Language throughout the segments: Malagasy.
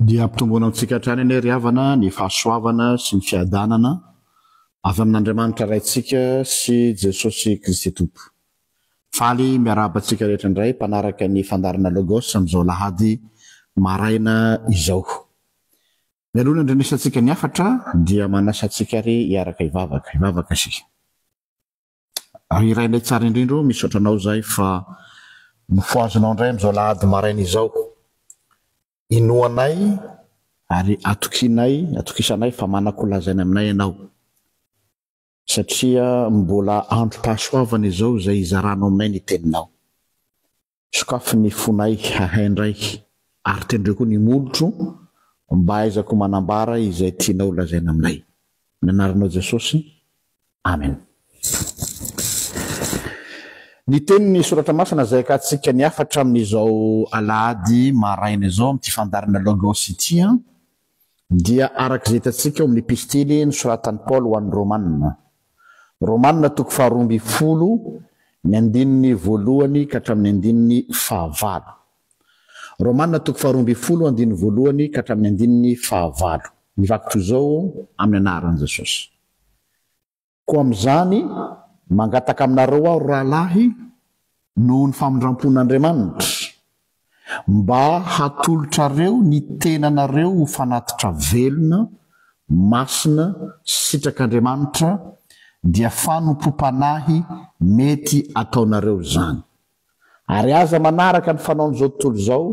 Dia ampitomboana amintsika hatrany anie ry havana ny fahasoavana sy ny fiadanana avy amin'Andriamanitra Raintsika sy Jesosy Kristy Tompo. Faly miarahaba antsika rehetra indray mpanaraka ny fandaharana Logos amin'izao alahady maraina izao. Mialoha ny handrenesantsika ny hafatra dia manasa antsika ary hiaraka hivavaka. Hivavaka isika. Ry Rainay tsara indrindra o, misaotra anao izay fa nofohazinao indray amin'izao alahady maraina izao. Inoanay ary atokianay, atokisanay fa manako ho lazaina aminay ianao satria mbola androm-pahasoavana izao izay hizaranao aminay ny Teninao. Sokafy ny fonay hahay indray ary tendreo koa ny molotro mba hahaizako manambara izay tianao ho lazaina aminay. Amin'ny anaranao Jesosy, Amen. Ny tenin'ny soratra masina izay hakantsika ny hafatra amin'izao alahady maraina izao amin'ity fandaharana Logos ity. dia araka izay hitantsika ao amin'ny Epistily nosoratan'i Paoly ho an'ny Romana. Romana toko faharoa ambin'ny folo, ny andininy voalohany ka hatramin'ny andininy fahavalo. Romana toko faharoa ambin'ny folo, andininy voalohany ka hatramin'ny andininy fahavalo. Mivaky toy izao amin'ny anaran'i Jesosy. Koa amin'izany, mangataka aminareo aho, rahalahy, noho ny famindram-pon'Andriamanitra, mba hatolotrareo ny tenanareo ho fanatitra velona, masina, sitrak'Andriamanitra, dia fanompoam-panahy mety ataonareo izany. Ary aza manaraka ny fanaon'izao tontolo izao,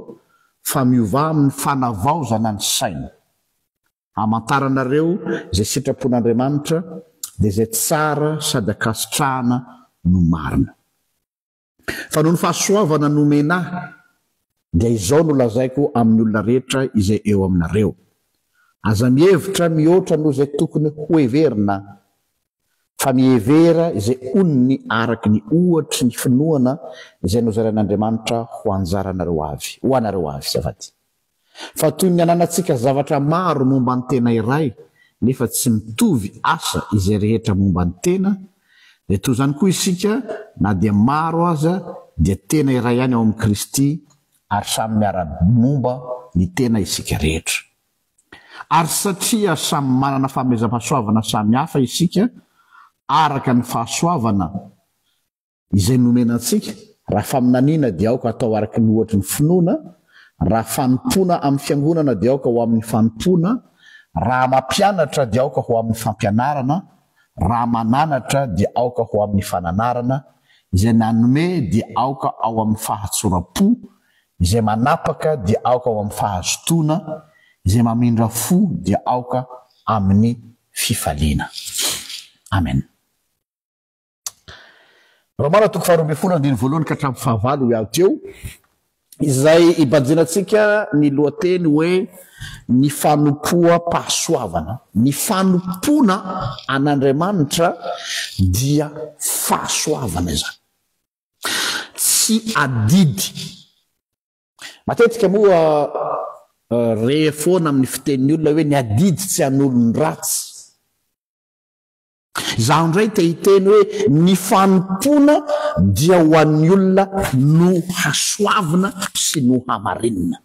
fa miovà amin'ny fanavaozana ny saina. Hamantaranareo izay sitrapon'Andriamanitra dia izay tsara sady ankasitrahana no marina. Fa noho ny fahasoavana nomena ahy dia izao no lazaiko amin'ny olona rehetra izay eo aminareo, Aza mihevitra mihoatra noho izay tokony hoheverina, fa mihevera izay onony araka ny ohatry ny finoana izay nozarain'Andriamanitra ho anjaranareo avy, ho anareo avy, azafady. Fa toy ny ananantsika zavatra maro momba ny tena iray nefa tsy mitovy asa izay rehetra momba ny tena, dia toy izany koa isika na dia maro aza dia tena iray ihany ao amin'i Kristy ary samy miara-momba ny tena isika rehetra. Ary satria samy manana famezam-pahasoavana samy hafa isika araka ny fahasoavana Izay nomena antsika, raha faminaniana dia aoka atao araka ny ohatry ny finoana, raha fanompoana amin'ny fiangonana dia aoka ho amin'ny fanompoana, raha mampianatra dia aoka ho amin'ny fampianarana, raha mananatra dia aoka ho amin'ny fananarana, izay nanome dia aoka ao amin'ny fahatsoram-po, izay manapaka dia aoka ao amin'ny fahazotoana, izay mamindra fo dia aoka amin'ny fifaliana. Amena. Romana toko faharoa ambin'ny folo andininy voalohany ka hatramin'ny fahavalo hoy aho teo, izay ibanjinantsika ny lohateny hoe ny fanompoam-pahasoavana. Ny fanompoana an'Andriamanitra dia fahasoavana izany. Tsy adidy. Matetika moa eh, re foana amin'ny fitenin'ny olona hoe ny adidy tsy an'olon-dratsy. Izaho indray te hiteny hoe ny fanompoana dia ho an'ny olona nohasoavina sy nohamarinina.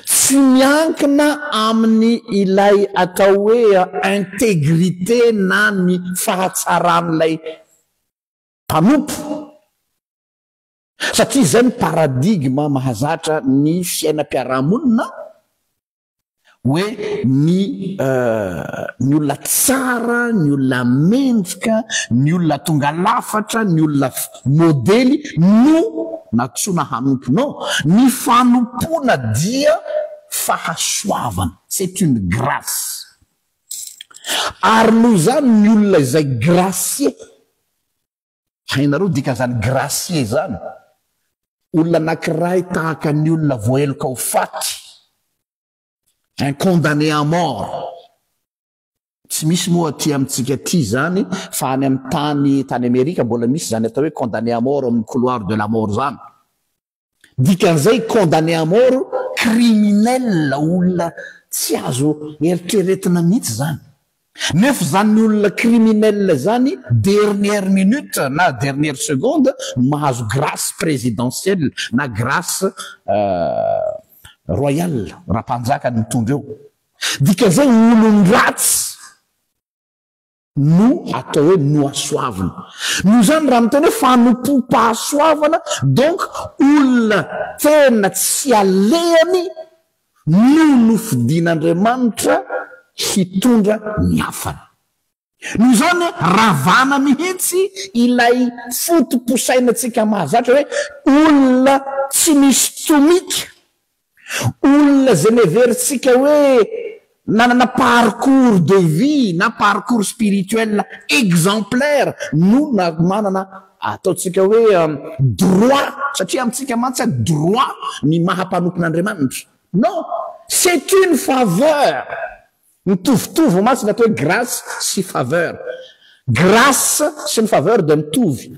Tsy miankina amin'ny ilay atao hoe integrite na ny fahatsaran'ilay mpanompo, satria izay no paradigme mahazatra ny fiainam-piarahamonina, Hoe ny ny olona tsara, ny olona mendrika, ny olona tonga lafatra, ny olona modely no nantsoina hanompo. Non, ny fanompoana dia fahasoavana, c'est une grace. Ary noho izany ny olona izay gracier, Hainareo dikan'izany gracier zany? Olona anakiray tahaka ny olona voaheloka ho faty, un condamné à mort. Tsy misy moa aty amintsika aty zany fa any amin'ny tany tany Amerika mbola misy zany atao hoe condamné à mort ao amin'ny couloir de la mort zany. Dikan'izay condamné à mort criminel olona tsy azo eritreretina mihitsy izany. Nefa izany olona criminel izany dernière minute na dernière seconde no mahazo grâce présidentielle na grâce royale raha mpanjaka ny mitondra eo. Dikan'izay olon-dratsy. no atao hoe nohasoavina. Noho izany, raha miteny hoe fanompoam-pahasoavana, donc olona tena tsy alehany no nofidin'Andriamanitra hitondra ny hafany. Noho izany, ravana mihitsy ilay foto-posainantsika mahazatra hoe olona tsy misy tomika Olona izay niheverintsika hoe nanana parcours de vie na parcours spirituel exemplaire no manana ataontsika hoe droit, satria amintsika mantsy droit ny maha mpanompon'Andriamanitra. Non! C'est une faveur! Mitovitovy mantsy ny atao hoe grace sy faveur. Grace sy ny faveur dia mitovy.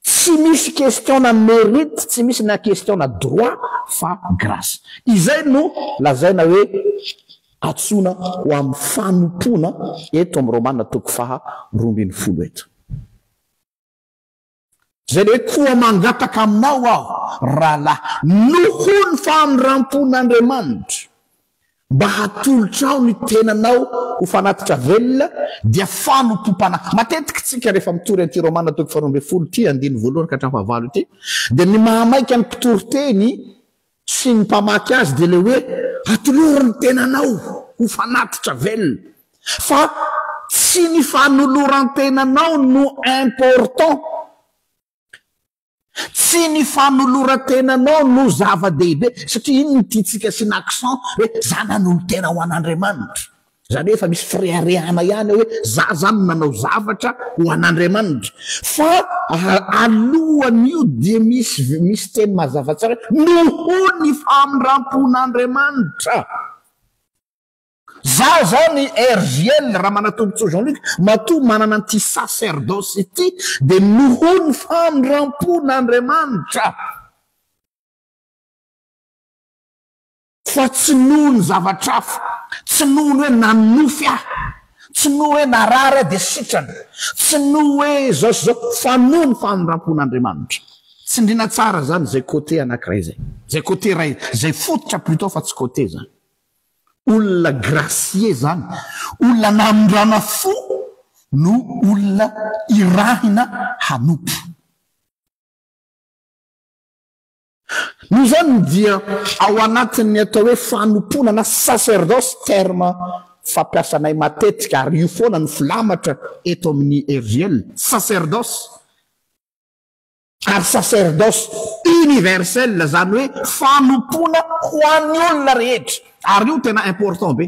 Tsy misy question na merite, tsy misy na question na droit fa grace. Izay no lazaina hoe atsoina ho amin'ny fanompoana eto amin'ny Romana toko faha roa ambin'ny folo eto. Izay hoe koa mangataka aminao aho, rahalahy, noho ny famindram-pon'Andriamanitra, mba hatolotrao ny tenanao ho fanatitra velona, dia fanompoam-panahy. Matetika isika rehefa mitory an'ity Romana toko faharoa ambin'ny folo ity, andininy voalohany ka hatramin'ny fahavalo ity, dia ny mahamaika ny mpitoriteny sy ny mpamaky azy dia ilay hoe atolory ny tenanao ho fanatitra velona fa tsy ny fanoloran-tenanao no important, tsy ny fanoloran-tenanao no zava-dehibe satria iny no tiantsika asiana accent hoe zah nanolo-tena ho an'Andriamanitra. Izany hoe efa misy fireharehana ihany ao hoe za zany no nanao zavatra ho an'Andriamanitra. Fa alohan'io dia misy misy teny mazava tsara hoe noho ny famindrampon'Andriamanitra. Za zany RJL Ramanatombotsoa Jean Luc matoa manana an'ity sacerdoce ity dia noho ny famindrampon'Andriamanitra. Fa tsy noho ny zavatra hafa, tsy noho ny hoe nanonofy aho, tsy noho hoe narary aho dia sitrana, tsy noho hoe izao sy izao, fa noho ny famindrampon'Andriamanitra. Tsindriana tsara izany izay côté anankiray izay. Izay côté iray, izay fototra plutôt fa tsy côté izany. Olona gracié izany, olona namindrana fo no olona irahina hanompo. Noho izany dia ao anatin'ny atao hoe fanompoana na sacerdoce terme fampiasanay matetika ary io foana no filamatra eto amin'ny RJL, sacerdoce ary sacerdoce universel izany hoe fanompoana ho an'ny olona rehetra ary io tena important be.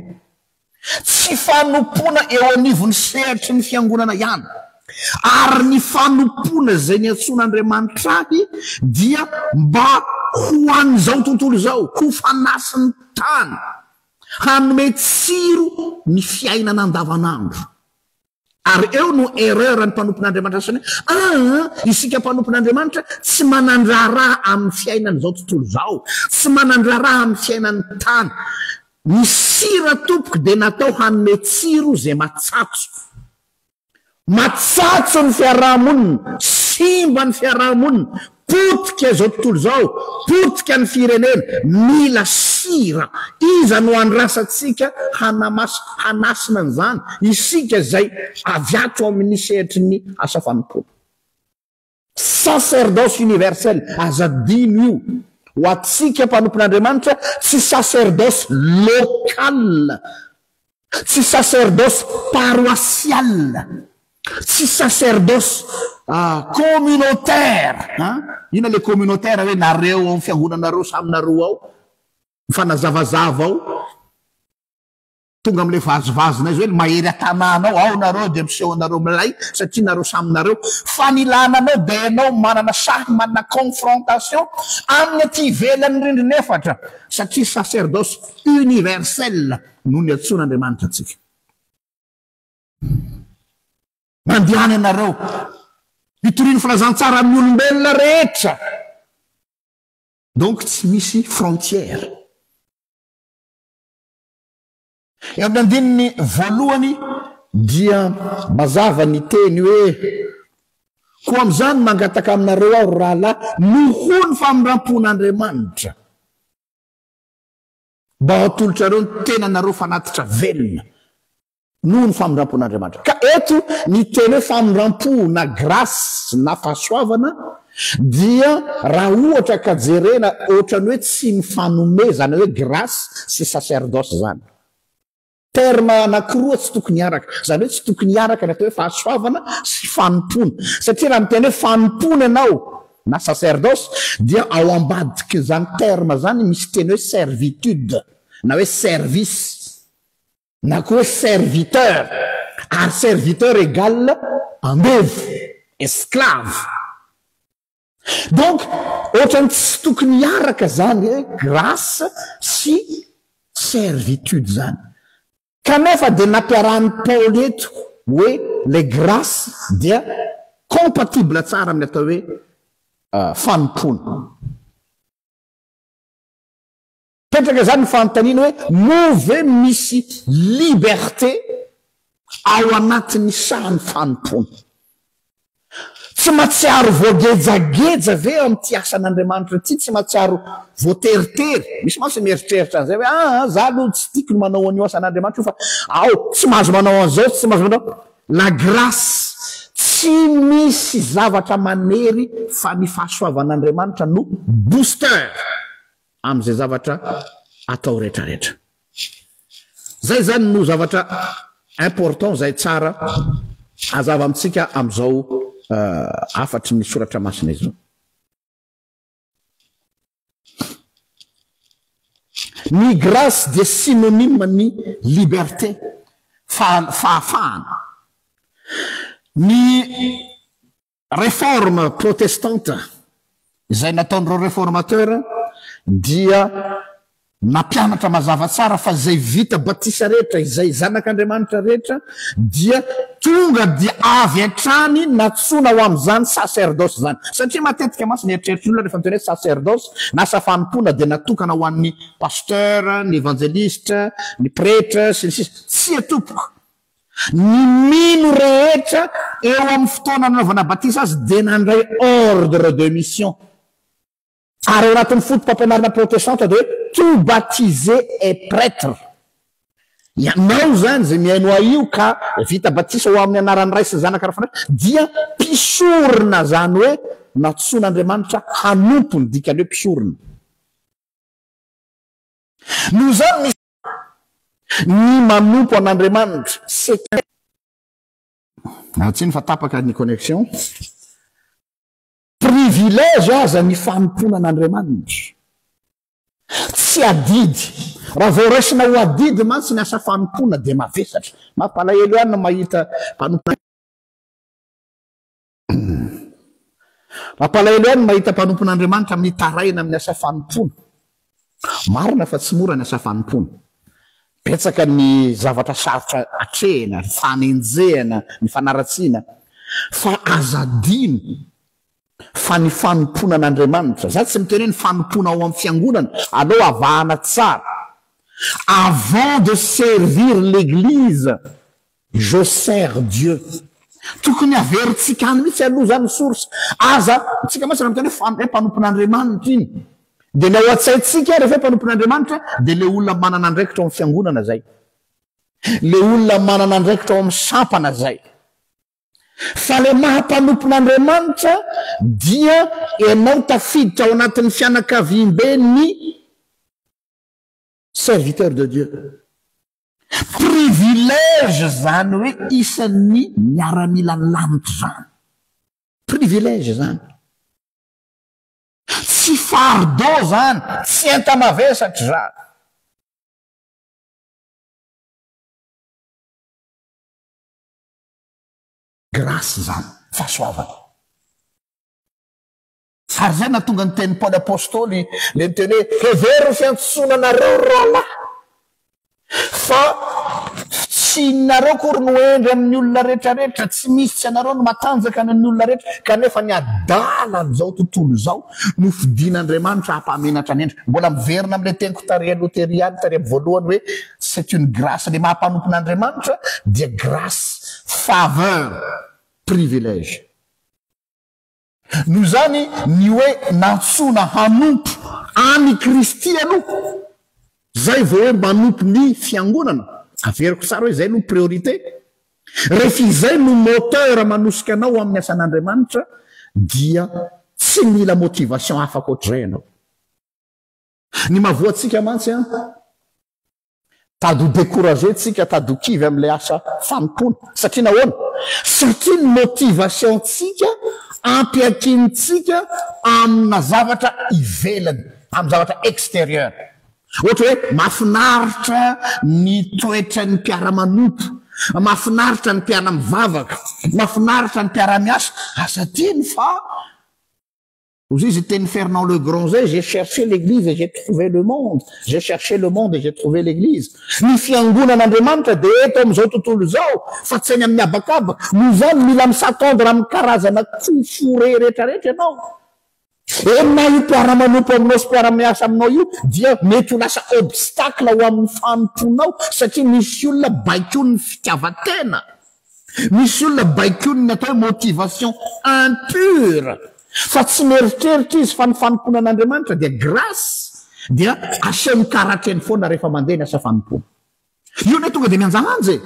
Tsy fanompoana eo anivon'ny sehatry ny fiangonana ihany, ary ny fanompoana izay niantsoan'Andriamanitra ahy dia mba ho an'izao tontolo izao, ho fanasin'ny tany, hanome tsiro ny fiainana andavanandro. Ary eo no erreur ny mpanompon'Andriamanitra sasany hoe aa isika mpanompon'Andriamanitra tsy manan-draharaha amin'ny fiainan'izao tontolo izao, tsy manan-draharaha amin'ny fiainan'ny tany. Ny sira tompoko dia natao hanome tsiro izay matsatso. Matsatso ny fiaraha-monina, simba ny fiaraha-monina, Potika izao tontolo izao, potika ny firenena, mila sira, iza no andrasantsika hanamas, hanasina an'izany, isika izay avy ato amin'ny sehatry ny asa fanompoana. Sacerdoce universel, aza adino io, ho antsika mpanompon'Andriamanitra, tsy sacerdoce local, Tsy saserdosy paroasiala, tsy saserdosy communautaire an! Inona ilay communautaire hoe nareo ao amin'ny fiangonanareo samy nareo ao? Mifanazavazava ao. Tonga amin'ilay vazivazina izy hoe ny mahery an-tanàna ao, ao nareo dia miseho anareo milay satria nareo samy nareo. Fa ny ilàna anao dia ianao manana sahy manana confrontation amin'ny aty ivelan'ny rindrina efatra satria saserdosy universel. no niantsoan'Andriamanitra antsika. Mandehana ianareo, hitoriany filazantsara amin'ny olombelona rehetra. Donc tsy misy frontière. Eo amin'ny andininy voalohany dia mazava ny teny hoe koa amin'izany mangataka aminareo aho ry rahalahy, noho ny famindram-pon'Andriamanitra. Mba hatolotrareo ny tenanareo fanatitra velona noho ny famindrampon'Andriamanitra. Ka eto ny teny hoe famindrampo na grâce na fahasoavana dia raha ohatra ka jerena ohatran'ny hoe tsy mifanomezana hoe grâce sy sacerdoce zany. Termes anakiroa tsy tokony hiaraka. Izany hoe tsy tokony hiaraka ny atao hoe fahasoavana sy fanompoana. Satria raha miteny hoe fanompoana ianao na sacerdoce dia ao ambadikin'izany terme izany misy teny hoe servitude na hoe service na koa hoe serviteur. Ary serviteur égale andevo, esclave. Donc otrany tsy tokony hiaraka zany hoe grace sy servitude zany. Kanefa dia nampiarahan'i Paoly eto hoe ilay grace dia compatible tsara amin'ny atao hoe fanompoana. Mipetraka izany ny fanontaniana hoe, moa ve misy liberté ao anatin'ny sahan'ny fanompoana? Tsy matsiaro voagejageja ve ao amin'ity asan'Andriamanitra ity? Tsy matsiaro voateritery? Misy mantsy mieritreritra an'izay hoe, aa, izaho aloha tsy tiako ny manao an'io asan'Andriamanitra io fa ao, tsy mahazo manao an'izao, tsy mahazo manao. La grâce, tsy misy zavatra manery fa ny fahasoavan'Andriamanitra no booster. amin'izay zavatra atao retraretra. Zay zany no zavatra important zay tsara azava amintsika amzao hafatry ny soratra masina izao. Ny grace dia synonyme ny liberté, fahafahana. Ny Reforme protestante izay nataon'ireo reformateur dia nampianatra mazava tsara fa izay vita batisa rehetra, izay zanak'Andriamanitra rehetra dia tonga dia avy hatrany natsoina ho amin'izany sacerdoce izany. Satria matetika mantsy ny eritreritry ny olona rehefa miteny hoe sacerdoce na asa fanompoana dia natokana ho an'ny pasteur, ny evangeliste, ny pretre, sy ny sisa. Tsia tompoko! Ny mino rehetra eo amin'ny fotoana nanaovana batisa azy dia nandray ordre de mission. Ary ao anatin'ny fotopampianarana protestanta dia hoe tout baptisé est prêtre. Ianao izany izay mihaino ahy io ka vita batisa ho amin'ny anaran'ny Ray sy ny Zanaka ary ny Fanahy Masina dia mpisorona izany hoe nantsoin'Andriamanitra hanompo ny dikany hoe mpisorona. Noho izany misy. Ny manompo an'Andriamanitra, Seker. Raha tsiny fa tapaka ny connexion. Privilège aza ny fanompoana an'Andriamanitra. Tsy adidy. Raha vao raisina ho adidy mantsy ny asa fanompoana dia mavesatra. Mampalahelo ihany ny mahita mpanompo. Mampalahelo ahy ny mahita mpanompon'Andriamanitra mitaraina amin'ny asa fanompoana. Marina fa tsy mora ny asa fanompoana. Betsaka ny zavatra sarotra atrehina, ny fanenjehana, ny fanaratsiana. Fa aza adino fa ny fanompoana an'Andriamanitra, za tsy miteny hoe ny fanompoana ao amin'ny fiangonana, aleo avahana tsara. Avant de servir l'église, Je sers Dieu. Tokony averintsika any mihitsy aloha izany ny source. Aza, tsika mantsy raha miteny hoe hoe mpanompon'Andriamanitra iny, dia ilay ao an-tsaintsika rehefa hoe mpanompon'Andriamanitra dia ilay olona manana andraikitra ao amin'ny fiangonana izay. Ilay olona manana andraikitra ao amin'ny sampana izay. Fa ilay maha mpanompon'Andriamanitra dia ianao tafiditra ao anatin'ny fianakaviambe ny Serviteur de Dieu. Privilège zany hoe isan'ny miaramilan'ny lanitra zany. Privilège zany. Tsy fardeau zany, tsy enta-mavesatra zany. Grâce zany, fahasoavana. Fa ary izay nahatonga ny tenin'i Paoly apostoly ilay miteny hoe, Hevero ny fiantsoana anareo ry rahalahy, fa tsy inareo akory no hendry amin'ny olona rehetrarehetra, tsy misy tsy anareo no matanjaka any amin'ny olona rehetra, kanefa ny adala an'izao tontolo izao no fidin'Andriamanitra hampamenatra ny hendry. Mbola miverina amin'ilay teniko tarihan'ny Loteriana tary amin'ny voalohany hoe, c'est une grâce, ilay maha mpanompon'Andriamanitra dia grâce, faveur, privilège. Noho izany, ny hoe nantsoina hanompo an' i Kristy aloha, izay vao hoe manompo ny Fiangonana. Averiko tsara hoe izay aloha priorité. Rehefa izay no moteur manosika anao ho amin'ny asan' Andriamanitra, dia tsy mila motivation hafa ankoatr'izay ianao. Ny mahavoa antsika mantsy an, tady ho découragé tsika, tady ho kivy amin'ilay asa fanompoana. Satria nahoana? Satria ny motivation tsika ampiankinitsika amina zavatra ivelany, amin'ny zavatra extérieur. Ohatra hoe mafinaritra ny toetran'ny mpiara-manompo, mafinaritra ny mpiara-mivavaka, mafinaritra ny mpiara-miasa, asa tiany fa Hoy zay izay tenin'i Fernand Le Grand izay, j'ai cherché l'église et j'ai trouvé le monde, j'ai cherché le monde et j'ai trouvé l'église. Ny fiangonan'Andriamanitra dia eto amin'izao tontolo izao fa tsy any amin'ny habakabaka. Noho izany mila mi-s'attendre amin'ny karazana kofore rehetrarehetra ianao. Eny na io mpiara-manompo aminao sy mpiara-miasa aminao io dia mety ho lasa obstacle ho amin'ny fanompoanao satria misy olona baikoin'ny fitiavan-tena. Misy olona baikoin'ny atao hoe motivation impure fa tsy mieritreritra izy fa ny fanompoana an'Andriamanitra dia grâce dia asehony karatreny foana rehefa mandeha ny asa fanompoana. Io anie tonga dia mianjalanja e!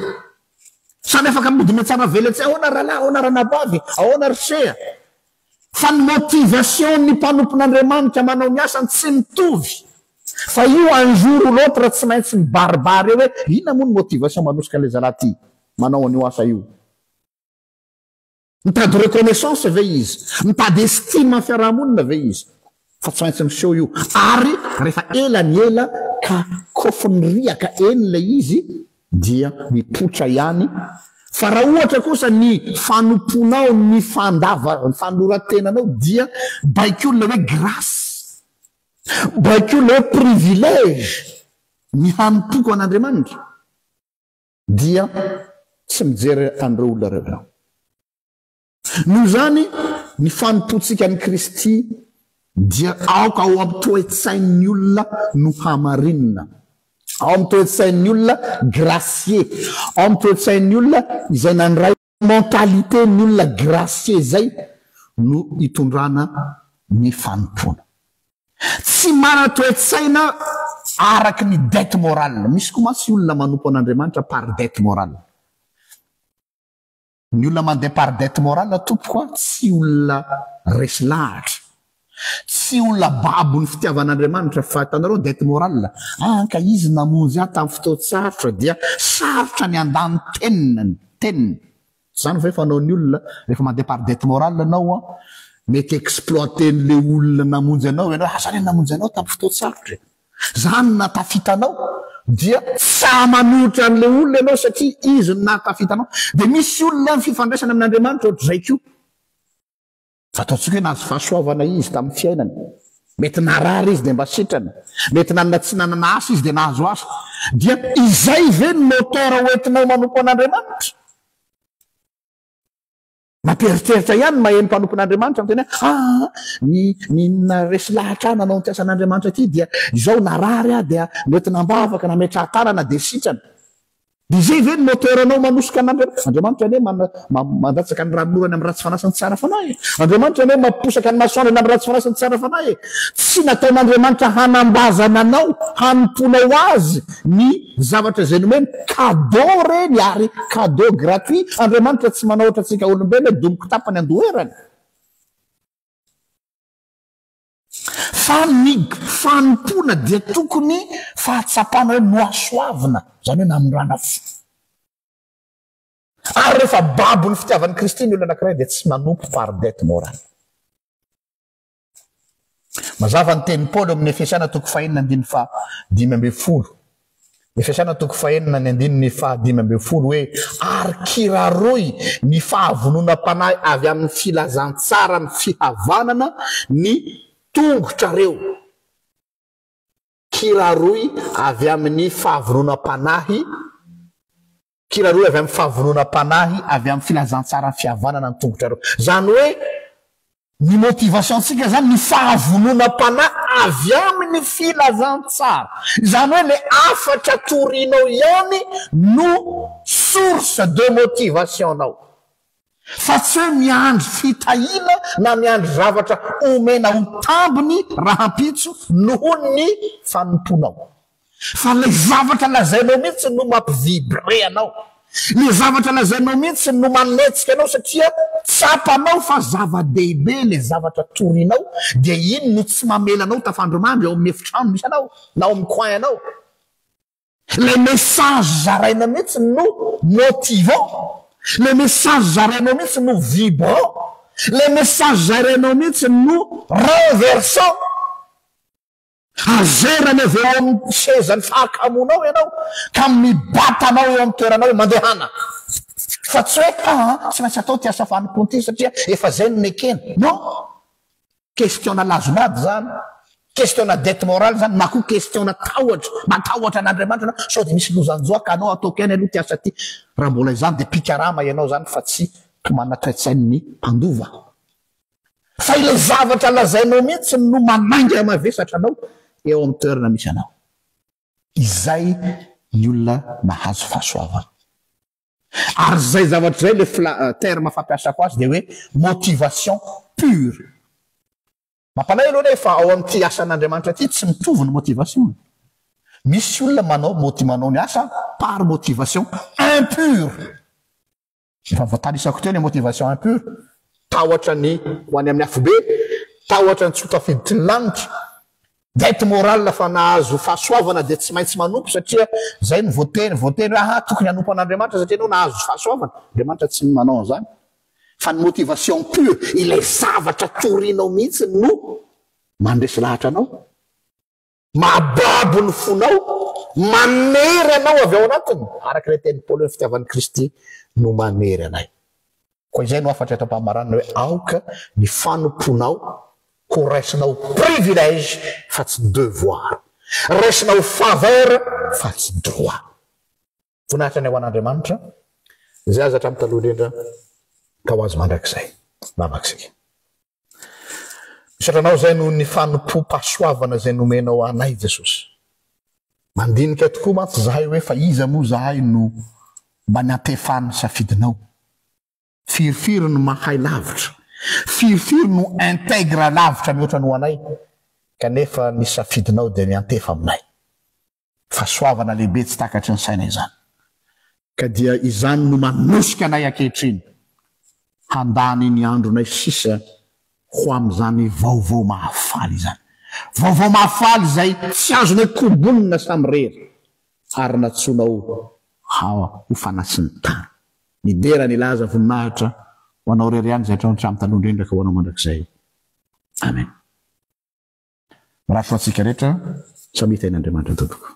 Samy afaka midina tsara veletsy ahoana rahalahy, ahoana ranabavy, ahoana ry seha. fa ny motivation ny mpanompon'Andriamanitra manao ny asany tsy mitovy fa io un jour ou l'autre tsy maintsy mibaribary eo hoe inona moa ny motivation manosika an'ilay zalahy ty manao an'io asa io. Mitady reconnaissance ve izy? Mitady estime amin'ny fiarahamonina ve izy? Fa tsy maintsy miseho io. Ary rehefa ela ny ela ka kofin'ny riaka eny ilay izy dia mipoitra ihany. Fa raha ohatra kosa ny fanompoanao, ny fandava, fanoran-tenanao dia baikon'ilay hoe grasy, baikon'ilay hoe privilège ny hanompoako an'Andriamanitra dia tsy mijery an'ireo olona ireo ianao. Noho izany, ny fanompoantsika an'i Kristy dia aoka ao amin'ny toe-tsain'ny olona no hamarinina, ao amin'ny toe-tsain'ny olona gracieux, ao amin'ny toe-tsain'ny olona izay nandray mentalité ny olona gracieux izay no hitondrana ny fanompoana. Tsy manana toe-tsaina araka ny dette morale. Misy koa mantsy olona manompo an'Andriamanitra par dette morale. Ny olona mandeha par dette morale tompoko a, tsy olona resy lahatra, tsy olona babon'ny fitiavan'Andriamanitra fa hitanareo dette morale a, ka izy namonjy ahy tamin'ny fotoan-tsarotra dia sarotra ny handany teniny, teniny. Izany ve fanaon'ny olona rehefa mandeha par dette morale ianao a, mety exploiter-n'ilay olona namonjy anao ianao, aza anie namonjy anao tamin'ny fotoan-tsarotra e. Zany no nahatafita anao dia tsy sahy manolotra an'le olona ianao satria izy no nahatafita anao. Dia misy olona ny fifandraisana amin'Andriamanitra ohatr'izay koa. Fa ataontsika hoe nahazo fahasoavana izy tamin'ny fiainany. Mety narary izy dia mba sitrana. Mety nanana tsy nanana asa izy dia nahazo asa. Dia izay ve no moteur hoentinao manompo an'Andriamanitra? Mampieritreritra ihany ny maheno mpanompon'Andriamanitra miteny hoe aa ny ny resy lahatra ahy nanao ity asan'Andriamanitra ity dia izao narary aho dia noentina am-bavaka nametrahan-tanana dia sitrana. Dia izay ve no moteur anao manosika an'Andriamanitra? Andriamanitra anie mandatsaka ny ranonorany amin'ny ratsy fanahy sy ny tsara fanahy e! Andriamanitra anie mamposaka ny masoandrony amin'ny ratsy fanahy sy ny tsara fanahy e! Tsy nataon'Andriamanitra hanambazana anao, hanompoanao Azy, ny zavatra izay nomeny cadeau reny ary cadeau gratuit Andriamanitra tsy manao ohatra antsika olombelona hoe domoky tapany andoherany fa ny fanompoana dia tokony fahatsapana hoe nohasoavina izany hoe namorana fo ary rehefa babon'ny fitiavan'i Kristy ny olona anankiray dia tsy manompo par dette morale Mazava ny tenin'i Paoly ao amin'ny Efesiana toko fahenina andininy fahadimy ambin'ny folo. Efesiana toko fahenina ny andininy fahadimy ambin'ny folo hoe ary kiraroy ny fahavononam-panahy avy amin'ny filazantsaran'ny fihavanana ny tongotrareo. Kiraroy avy amin'ny fahavononam-panahy Kira rohy avy amin'ny fahavononam-panahy avy amin'ny filazantsaran'ny fihavanana ny tongotra rohy. Izany hoe ny motivation-tsika izany ny fahavononam-panahy avy amin'ny filazantsara. Izany hoe ilay hafatra torianao ihany no source de motivation-nao. fa tsy hoe miandry fitahiana na miandry zavatra omena ho tambiny rahampitso noho ny fanompoanao. Fa ilay zavatra lazainao mihitsy no mampi-vibrer anao. Ilay zavatra lazainao mihitsy no manetsika anao satria tsapanao fa zava-dehibe ilay zavatra torinao, dia iny no tsy mamela anao tafandrimandry ao amin'ny efitrano misy anao na ao amin'ny coin-nao. Ilay message zaraina mihitsy no motivant, ilay message zarainao mihitsy no vibrant, ilay message zarainao mihitsy no renversant. Hazerany avy eo amin'ny sezan'ny fahakamoanao ianao ka mibata anao eo amin'ny toeranao hoe mandehana fa tsy hoe aa tsy maintsy atao ity asa fanompoana ity satria efa izay no nekena. Non. Question-na lazilazy zany, question-na dette morale zany na koa question-na tahotra, matahotra an'Andriamanitra anao sao dia misy lozan-joa ka anao ataoko ihany aloha ity asa ity, raha mbola izany dia mpikarama ianao zany fa tsy mpimana toetsain'ny mpandova. Fa ilay zavatra lazainao mihitsy no manainga mavesatra anao eo amin'ny toerana misy anao. Izay ny olona mahazo fahasoavana. Ary izay zavatra izay ilay fla terme fampiasako azy dia hoe motivation pure. Mampanahy aloha anie fa ao amin'ity asan'Andriamanitra ity tsy mitovy ny motivation. Misy olona manao moti manao ny asa par motivation impure. Efa voatanisako teo ny motivation impure, tahotra ny ho any amin'ny afobe, tahotra ny tsy ho tafiditry ny lanitra. Dette morale fa nahazo fahasoavana dia tsy maintsy manompo satria izay no voatery voatery hoe aha tokony hanompo an'Andriamanitra satria ianao nahazo fahasoavana, Andriamanitra tsy manao an'izany fa ny motivation pure ilay zavatra torianao mihitsy no mandresy lahatra anao, mahababo ny fonao, manery anao avy ao anatiny araka ilay tenin'i Paoly hoe fitiavan'i Kristy no manery anay. Koa izay no hafatra eto am-pamaranana hoe aoka ny fanompoanao ho raisina ho privilège fa tsy devoir, raisina ho faveur fa tsy droit. Voninahitra anie ho an'Andriamanitra izay aza hatramin'ny taloha indrindra ka ho azy mandrakizay. Mamaky isika. Misaotra Anao izay noho ny fanompoam-pahasoavana izay nomenao anay, Jesosy. Mandinika tokoa mantsy izahay hoe fa iza moa izahay no mba niantefan'ny ny safidinao. Firifiry no mahay lavitra, firifiry no integra lavitra mihoatra ny ho anay, kanefa ny safidinao dia miantefa aminay. Fahasoavana lehibe tsy takatry ny saina izany. Ka dia izany no manosika anay ankehitriny handany ny andronay sisa ho amin'izany vaovao mahafaly izany. Vaovao mahafaly izay tsy azonay kombonina samirery ary natsoinao ho fanasin'ny tany. Midera ny laza voninahitra ho anao irery ihany izay hatramin'ny taloha indrindra ka ho anao mandrakizay. Amen. Mirary soa antsika rehetra, samia tahin'Andriamanitra tompoko.